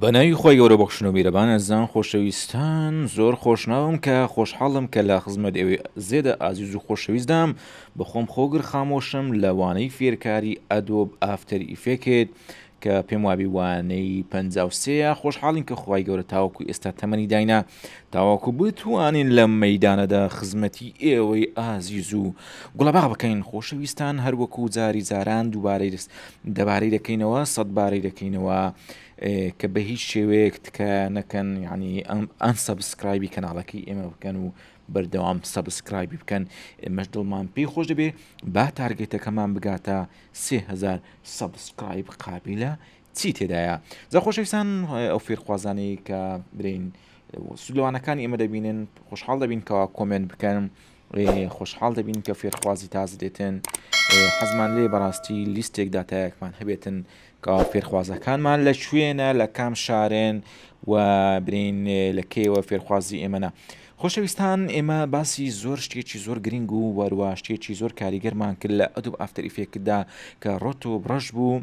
بە ناوی خوای گەورە بەخشنەو میرەبان ئەزان خۆشەویستان زۆر خۆشناوم کە خۆشحاڵم کە لە خزمەت ئێوەی زێدە ئازیز و خۆشەویستدام بە خۆم خۆگر خامۆشم لە وانەی فێرکاری ئەدۆب ئافتەر ئیفێکێت کە پێم وابی وانەی پەنجا و سێیە خۆشحاڵین کە خوای گەورە تاوەکو ئێستا تەمەنی داینا تاوەکو بتوانین لەم مەیدانەدا خزمەتی ئێوەی ئازیز و گوڵەباغ بکەین خۆشەویستان هەروەکو جاری جاران دووبارەی دەبارەی دەکەینەوە سەد بارەی دەکەینەوە کە بە هیچ شێوەیەک تکایە نەکەن یعنی ئەم ئەن سەبسکرایبی کەناڵەکەی ئێمە بکەن و بەردەوام سەبسکرایبی بکەن ئێمەش دڵمان پێی خۆش دەبێ با تارگێتەکەمان بگاتە سهزار سەبسکرایب قابلە چی تێدایە زە خۆشەویستان ئەو فێرخوازانەی کە برین سلوانەکانی ئێمە دەبینن خۆشحاڵ دەبین کەوا کۆمنت بکەن خۆشحاڵ دەبین کە فێرخوازی تازە دێتن حەزمان لێ بەڕاستی لیستێک داتایەکمان هەبێتن کە فێرخوازەکانمان لە شوێنە لە کام شارێن و برین لە کێوە فێرخوازی ئێمەە خۆشەویستان ئێمە باسی زۆر شتێکی زۆر گرنگ و وەرواشتێکی زۆر کاریگەرمان کرد لە ئەدوب ئافتەریفێکدا کە ڕۆت و بڕەش بوو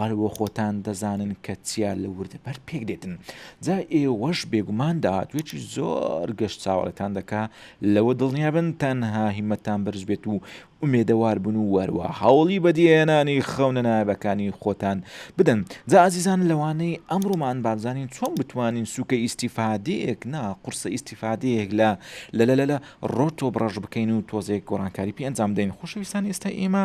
هەر بۆ خۆتان دەزانن کە چیا لە وردەبەرد پێک دێتن. جا ئێوەش بێگومان داهاتوویەکی زۆر گەش چاوەڕێتان دەکا، لەوە دڵنیا بن تەنها هیممەتتان بەرز بێت و ئومێدەوار بن و وەروا هەوڵی بەدیهێنانی خەونە نایابەکانی خۆتان بدەن. جا ئازیزان لەوانەی ئەمڕۆمان با بزانین چۆن بتوانین سووکە ئیستیفادەیەک نا قورسە ئیستیفادەیەک لە لە لە لە ڕۆتۆب ڕەش بکەین و تۆزێک گۆڕانکاری پێ ئەنجام بدەین. خۆشەویستانی ئێستای ئێمە.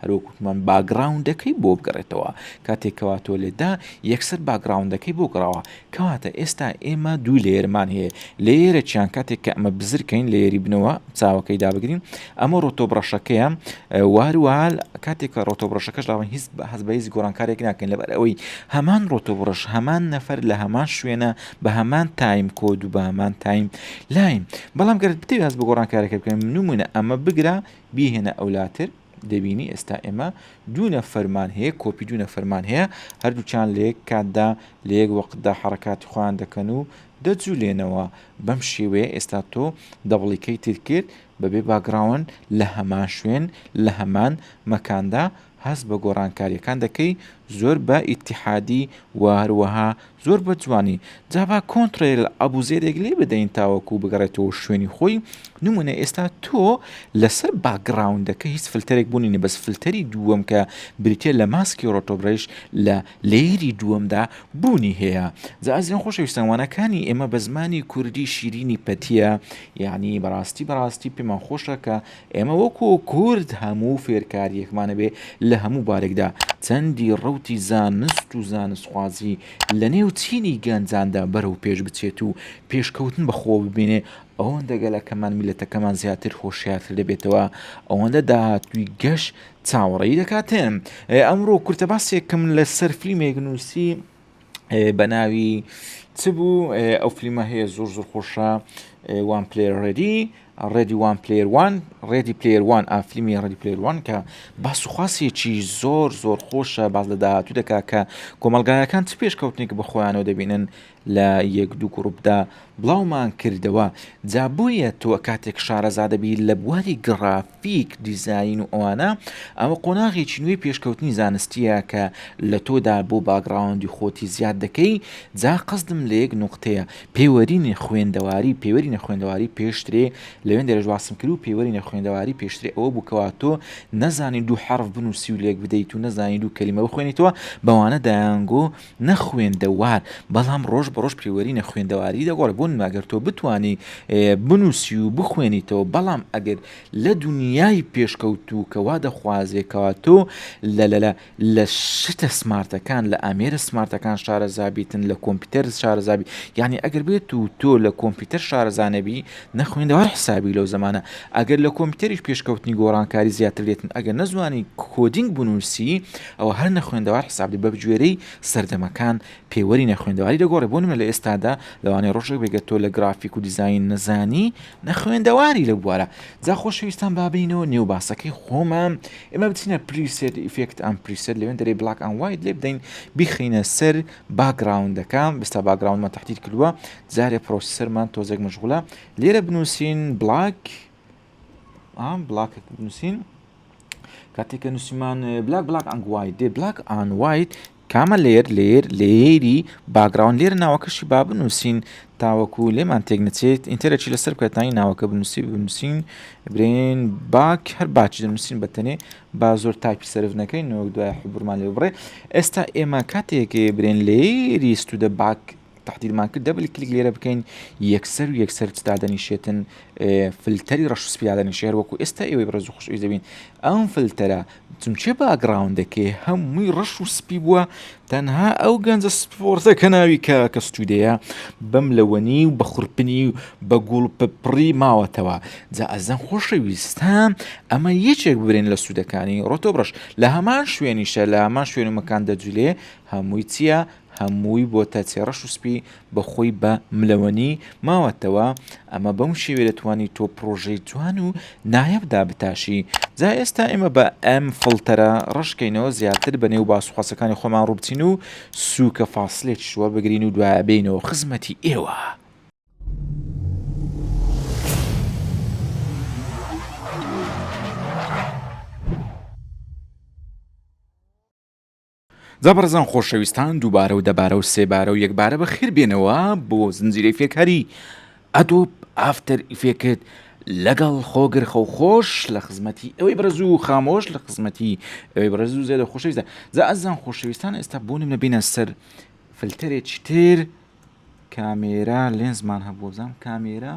هەر وەک وتمان باگڕاوندەکەی بۆ بگەڕێتەوە کاتێک کەوا تۆ لێدا یەکسەر باگڕاوندەکەی بۆ گڕاوە کەواتە ئێستا ئێمە دوو لێرمان هەیە لێرەچیان کاتێک کە ئەمە بزرکەین لێری بنەوە چاوەکەی دابگرین ئەمە ڕۆتۆ بڕەشەکەیە واروال کاتێک کە ڕۆتۆ بڕەشەکەش لاوە هیچ بە هەز بە هیچ گۆڕانکارێک ناکەین لەبەر ئەوەی هەمان ڕۆتۆ بڕش هەمان نەفەر لە هەمان شوێنە بە هەمان تایم کۆد و بە هەمان تایم لاین بەڵام گەرت بتێ هەز بە گۆڕانکارەکە بکەین نمونە ئەمە بگرە بیهێنە ئەولاتر دەبینی ئێستا ئێمە دوو نەفەرمان هەیە کۆپی دوو نەفەرمان هەیە هەردووکیان لە یەک کاتدا لە یەک وەقتدا حەڕەکاتی خۆیان دەکەن و دەجولێنەوە بەم شێوەیە ئێستا تۆ دەبڵیکەیتت کرد بەبێ باگڕاوەند لە هەمان شوێن لە هەمان مەکاندا هەست بە گۆڕانکاریەکان دەکەی زۆر بە ئیتیحادی وە هەروەها زۆر بە جوانی جا با کۆنتڕێل ئەبوزێدێک لێ بدەین تاوەکو بگەڕێتەوە شوێنی خۆی نمونە ئێستا تۆ لەسەر باگڕاوندەکە هیچ فلتەرێک بوونی نە بەس فلتەری دووەم کە بریتە لە ماسکی ڕۆتۆبرەیش لە لەیری دووەمدا بوونی هەیە جا ئەزیان خۆشەویستان وانەکانی ئێمە بە زمانی کوردی شیرینی پەتیە یعنی بەڕاستی بەڕاستی پێمان خۆشە کە ئێمە وەکو کورد هەموو فێرکاریەکمان هەبێ لە هەموو بارێکدا، چەندی ڕەوتی زانست و زانستخوازی لە نێو چینی گەنجاندا بەرەو پێش بچێت و پێشکەوتن بە خۆوە ببینێ، ئەوەندە گەلەکەمان، میللەتەکەمان زیاتر هۆشیارتر دەبێتەوە، ئەوەندە داهاتووی گەش چاوەڕێی دەکاتێ. ئەمڕۆ کورتە باسێکم لە سەر فلیمێک نووسی، بەناوی چ بوو ئەو فلیمە هەیە زۆر زۆر خۆشە وان پلێر ڕێدی ڕێدی وان پلێروان ڕێدی پلێروان ئافلیمی ڕێدی پلێروان کە باسوخواسیەکی زۆر زۆر خۆشە باز لە داهاتوو دەکا کە کۆمەلگایەکان چ پێشکەوتنێک بە خۆیانەوە دەبینن لە یەک دوو گوڕبدا بڵاومان کردەوە جابۆیە تۆ کاتێک شارەزادەبی لە بواری گەڕاف فیک، دیزاین و ئەوانە، ئەوە قۆناغێکی نوێی پێشکەوتنی زانستییە کە لە تۆدا بۆ باگڕاوندی خۆتی زیاد دەکەی، جا قەسدم لە یەک نوقتەیە، پێوەرینی خوێندەواری، پێوەرینە خوێندەواری پێشترێ، لەوێندەرێش باسم کرد و پێوەرینە خوێندەواری پێشترێ ئەوە بوو کەوا تۆ نەزانی دوو حەرف بنووسی و لێک بدەیت و نەزانی دوو کەلیمە بخوێنیتەوە، بەوانە دایانگۆ نەخوێندەوار بەڵام ڕۆژ بە ڕۆژ پێوەری نەخوێندەواری دەگۆڕێ بۆ نماگەر تۆ بتانی بنووسی و بخوێنیتەوە بەڵام ئەگەر لە دنیای پێشکەوتووکەوا دەخوازێکەوە تۆ لە لەلە لە شتە سمارتەکان لە ئامێرە سمارتەکان شارە زابیتن لە کۆمپیوتەر شارە زابی یعنی ئەگەر بێت و تۆ لە کۆمپیوتەر شارەزانەبی نەخوێندەوار حسابی لەو زمانە ئەگەر لە کۆمپیوتەریش پێشکەوتنی گۆڕانکاری زیاتر لێتن ئەگەر نەزوانی کۆدینگ بنووسی ئەوە هەر نەخوێندەوار حساب دەبێت بەگوێرەی سەردەمەکان پێوەری نەخوێندەواری دەگۆڕێت بۆ نمونە لە ئێستادا لەوانەیە ڕۆژێک بێت تۆ لە گرافیک و دیزاین نەزانی نەخوێندەواری لەو بوارە جا خۆشەویستان با بێینەوە نێو باسەکەی خۆمان ئێمە بچینە پریسێت ئیفێکت ئەم پریسێت لەوێن دەرێ بلاک ئەند وایت لێ بدەین بیخینە سەر باگراوندەکە بستا باگراوندمان تهدید کردووە جارێ پرۆسیسەرمان تۆزێک مشغولە لێرە بنووسین بلاک بلاکێک بنووسین کاتێککە نووسمان بلاک بلاک ئەنگوای دێ بلاک ئانوایت کامە لێر لێر لێری باگراون لێر ناوەکەشی با بنووسین تاوەکو لێمان تێک نچێت ئینتەرەکی لەسەر بکەتانی ناوەکە بنووسی بنووسین برێن باک هەر باچ دەنووسین بەتەنێ با زۆر تاکی سرف نەکەین نەوە دوای حبرمان لێ بڕێ ئێستا ئێمە کاتێک برێن لێری سوودە باک تەحدیرمان کرد دەبل کلیک لێرە بکەین یەکسەر و یەکسەر چ دادەنیشێتن فلتەری ڕەش سپی دادەنیشێ هەر وەکو ئێستا ئێوەی بەڕێز و خوشویست دەبین ئەم فلتەرە چونچێ باگراوندەکەی هەمووی ڕەش و سپی بووە تەنها ئەو گەنجە سپۆرتە کە ناوی کە کە ستودەیە بەم لەوەنی و بە خورپنی و بە گوڵ پپڕی ماوەتەوە جا ئەزەن خۆشەویستان ئەمە یەکێک ببرێن لە سوودەکانی ڕۆتۆبڕش لە هەمان شوێنیشە لە هەمان شوێن و مەکان دەجولێ هەمووی چییە هەمووی بۆتە چێڕەش و سپی بە خۆی بە ملەوەنی ماوەتەوە ئەمە بەم شێوێ دەتوانی تۆ پڕۆژەی جوان و نایاب دابتاشی جا ئێستا ئێمە بە ئەم فڵتەرە ڕەشکەینەوە زیاتر بە نێو باس و قاسەکانی خۆمان ڕووبچین و سووکە فاسلێکیش وەربگرین و دوایە بێینەوە خزمەتی ئێوە. جا بەڕێزان خۆشەویستان دووبارە و دەبارە و سێبارە و یەکبارە بە خێر بێنەوە بۆ زنجیرەی فێکهری ئەدۆب ئافتەر ئیفێکت لەگەڵ خۆگر خەو خۆش لە خزمەتی ئەوەی بەرز و خامۆش لە خزمەتی ئەوەی بەرز و زێدە خۆشەویستە جا ئەزان خۆشەویستان ئێستا بۆ نمە بینە سەر فلتەرێکی تر کامێرا لێنزمان هەبووزان کامێرا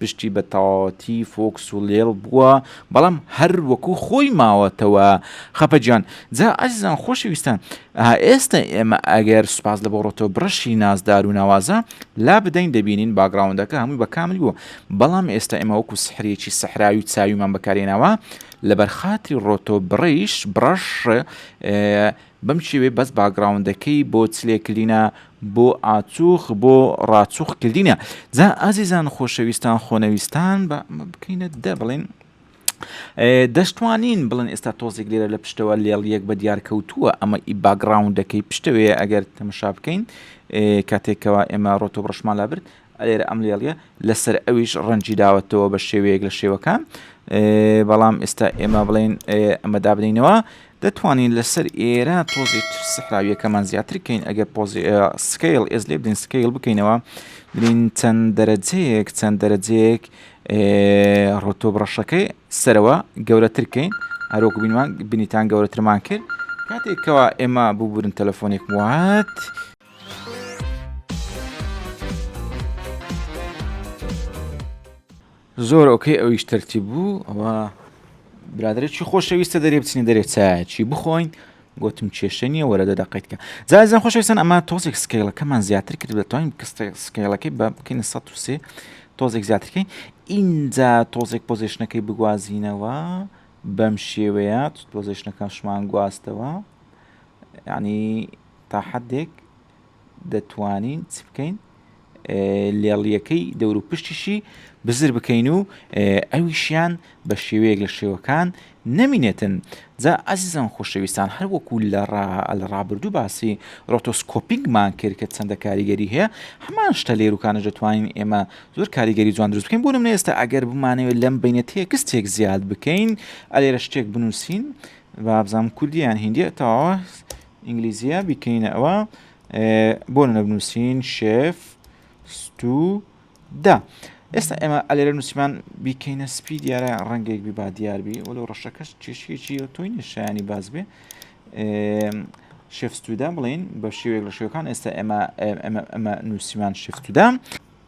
پشتی بە تەواوەتی فۆکس و لێڵ بووە بەڵام هەر وەکو خۆی ماوەتەوە خەپە جان جا ئازیزان خۆشەویستان ئێستا ئێمە ئەگەر سوپاس لە بۆڕۆتۆ بڕەشی نازدار و ناوازە لا بدەین دەبینین باگراوندەکە هەمووی بە کامل بووە بەڵام ئێستا ئێمە وەکو سحرێکی سەحراوی و چاویمان بەکارێناوە لەبەر خاتری ڕۆتۆ بڕیش بڕەش بەم شێوەیە بەس باگڕاوندەکەی بۆ چلێ کلینە بۆ ئاچوخ بۆ ڕاچوخ کلینە جا ئازیزان خۆشەویستان خۆنەویستان بە ئەمە بکەینە دە بڵێن دەشتوانین بڵێن ئێستا تۆزێک لێرە لە پشتەوە لێڵ یەک بە دیار کەوتووە ئەمە ئی باگراوندەکەی پشتەوەیە ئەگەر تەمەشا بکەین کاتێکەوە ئێمە ڕۆتۆ بڕشمان لابرد لێرە ئەم لێڵیە لەسەر ئەویش ڕەنجی داوەتەوە بە شێوەیەک لە شێوەکان بەڵام ئێستا ئێمە بڵین ئەمە دابنینەوە دەتوانین لەسەر ئێرە تۆزی تر سەحراویەکەمان زیاتر کەین ئەگەر پۆزی سکیل ئێز لێ بدەین سکیل بکەینەوە بلین چەند دەرەجەیەک چەند دەرەجەیەک ڕۆتۆ بڕەشەکەی سەرەوە گەورەتر کەین هەرۆک بینمان بینیتان گەورەترمان کرد کاتێکەوە ئێمە ببورن تەلەفۆنێک وات زۆر ئۆکەی ئەویش تەرتی بوو ئەوە برادێکی خۆشەویستە دەرێ بچنی دەرێ چایەکی بخۆین گوتم کێشە نییە وەرە دە دەقیتکە جازان خۆشەویستان ئەمە تۆزێک سکەیڵەکەمان زیاتر کرد دەتوانین سکەیڵەکەی بە بکەین 1970 تۆزێک زیاترکەین ئینجا تۆزێک پۆزیشنەکەی بگوازینەوە بەم شێوەیە پۆزیشنەکان شمان گواستەوە ینی تا حەدێک دەتوانین چ بکەین لێڵیەکەی دەورو پشتیشی بزر بکەین و ئەویشیان بە شێوەیەک لە شێوەکان نەمینێتن جا ئازیزان خۆشەویستان هەر وەکو لە لە ڕابردوو باسی ڕۆتۆسکۆپینگمان کرد کە چەندە کاریگەری هەیە هەمان شتە لێروکانە دەتوانین ئێمە زۆر کاریگەری جوان دروست بکەین بۆ نمونە ئێستا ئەگەر بمانەوە لەم بینە تێکستێک زیاد بکەین ئەلێرە شتێک بنووسین بابزانام کوردیان هندی تەواوە ئینگلیزیە بیکەینە ئەوە بۆ نە بنووسین شێف ستو دا ئێستا ئێمە ئەلێرە نووسمان بیکەینە سپی دیارە ڕەنگێک بی با دیاربی وەل ڕەشەکەش کێشیەکی تۆی نیشانی باز بێ شێفستودا بڵین بە شێوێک لە شێوەکان ئێستا ئێمە ئەمە نووسمان شفتودا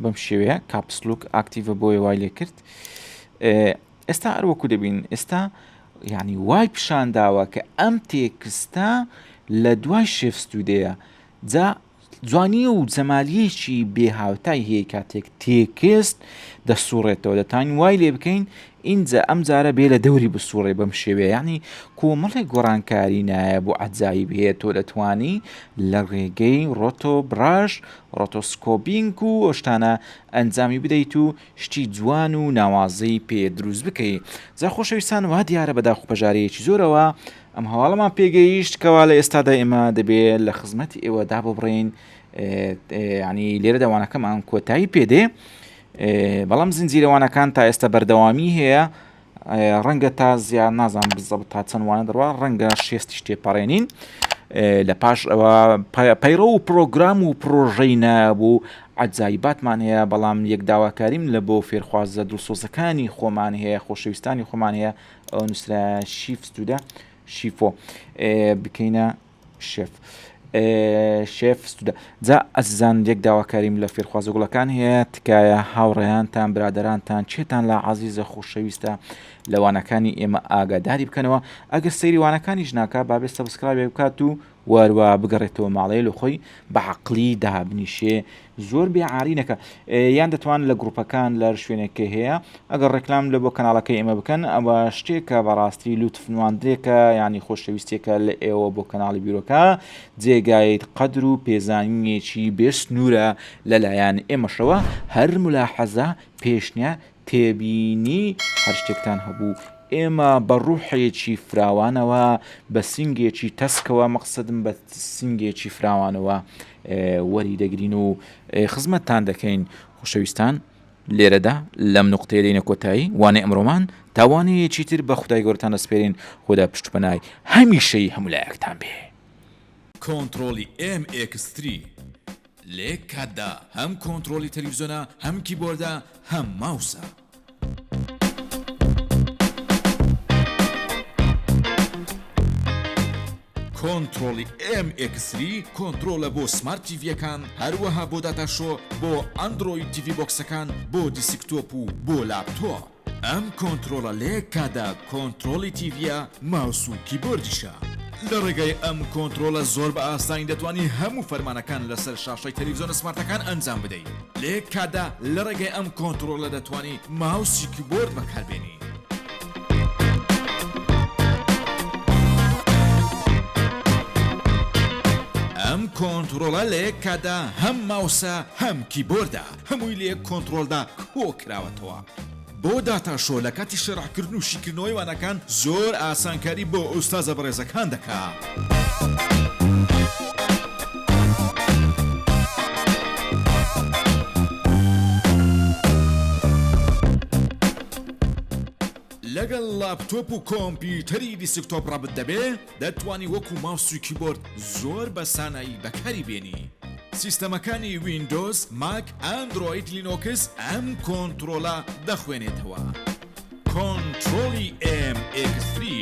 بەم شێوەیە کاپسلوک ئاکتیڤە بۆیە وای لێ کرد ئێستا هەر وەکو دەبین ئێستا یعنی وای پیشان داوە کە ئەم تێکستە لە دوای شێفستودەیە جا جوانی و جەمالیەکی بێهاوتای هەیە کاتێک تێکست دەسوڕێتەوە دەتان وای لێ بکەین ئینجا ئەم جارە بێ لە دەوری بسوڕێ بەم شێوێ ینی کۆمەڵێک گۆڕانکاری نایە بۆ ئەجایی بێت تۆ دەتانی لە ڕێگەی ڕۆتۆ براش ڕۆتۆسکۆبینگ و ئەشتانە ئەنجامی بدەیت و شتی جوان و ناوازەی پێ دروست بکەی جا خۆشەویستان وا دیارە بەداخ و پەژارەیەکی زۆرەوە ئەم هەواڵەمان پێگەیشت کەوا لە ئێستادا ئێمە دەبێ لە خزمەتی ئێوە داببڕین ینی لێرە دەوانەکەمان کۆتایی پێدێ بەڵام زنجیرەوانەکان تا ئێستا بەردەوامی هەیە ڕەنگە تا زیاد نازان بزەبت تا چەند وانە دەڕوا ڕەنگە شێستیش تێپەڕێنین لە پاش ئەوە پەیڕە و پرۆگرام و پرۆژەی نابوو ئەجای باتمان هەیە بەڵام یەک داواکاریم لە بۆ فێرخوازە دڵسۆزەکانی خۆمان هەیە خۆشەویستانی خۆمان هەیە ئەو نووسرا شیفت سوودە شیفۆ بکەینە شێف شێف ستودە جا ئەزیزان یەک داواکاریم لە فێرخوازە گوڵەکان هەیە تکایە هاوڕێیانتان برادرانتان چێتان لە عزیزە خۆشەویستە لەوانەکانی ئێمە ئاگاداری بکەنەوە ئەگەر سەیری وانەکانیش ناکە بابێ سەبسکرایبێ بکات و واروا بگەڕێتەوە ماڵەیە لە خۆی بە عقلی دابنیشێ زۆر بێ عاری نەکە یان دەتوان لە گروپەکان لەر شوێنێکی هەیە ئەگەر ڕێکلام لە بۆ کەناڵەکەی ئێمە بکەن ئەوە شتێکە بەڕاستی لوتف نواندرێکە ینی خۆشەویستێکە لە ئێوە بۆ کەناڵی بیرۆکە جێگایت قەدر و پێزانینێکی بێ سنوورە لەلایەن ئێمەشەوە هەر ملاحەزە پێشنیا تێبینی هەر شتێکتان هەبوو ئێمە بە ڕوحێکی فراوانەوە بە سنگێکی تەسکەوە مەقصدم بە سنگێکی فراوانەوە وەری دەگرین و خزمەتتان دەکەین خۆشەویستان لێرەدا لەم نقطەیە دەینە کۆتایی وانێ ئەمرۆمان تاوانەیەکی تر بە خدای گەورتان دەسپێرین خۆدا پشتپەنای هەمیشەی هەمولایەکتان بێ. کۆنتڕۆڵی ئێم ئێکس تری لە یەک کاتدا هەم کۆنتڕۆڵی تەلەفزیۆنە هەم کیبۆردە هەم ماوسە. کۆنتڕۆڵی ئێم ئێکس سری کۆنترۆڵە بۆ سمارت تیڤیەکان هەروەها بۆ داتا شۆ بۆ ئەندرۆید تیڤی بۆکسەکان بۆ دیسکتۆپ و بۆ لاپتۆپ ئەم کۆنترۆڵە لە یەک کاتدا کۆنترۆڵی تیڤیە ماوس و کیبۆردیشە لە ڕێگای ئەم کۆنترۆڵە زۆر بە ئاسانی دەتوانی هەموو فەرمانەکان لەسەر شاشەی تەلەڤیزۆنە سمارتەکان ئەنجام بدەیت لە یەک کاتدا لە ڕێگای ئەم کۆنتڕۆڵە دەتوانی ماوس و کیبۆرد بەکاربێنی. ئەم کۆنتڕۆڵە لە یەک کاتدا هەم ماوسە هەم کیبۆردە هەمووی لە یەک کۆنتڕۆلدا کۆکراوەتەوە. بۆ داتا شۆ لە کاتی شەرح کردن و شیکردنەوەی وانەکان زۆر ئاسانکاری بۆ ئوستازە بەڕێزەکان دەکا. لەگەڵ لاپتۆپ و کۆمپیوتەری دیسکتۆپ ڕەبت دەبێ؟ دەتوانی وەکو ماوس و کیبۆرد زۆر بە سانایی بەکاری بێنی. سیستەمەکانی ویندۆز، ماک، ئەندرۆید، لینۆکس ئەم کۆنترۆڵە دەخوێنێتەوە. کۆنترۆڵی ئێم ئێکس تری.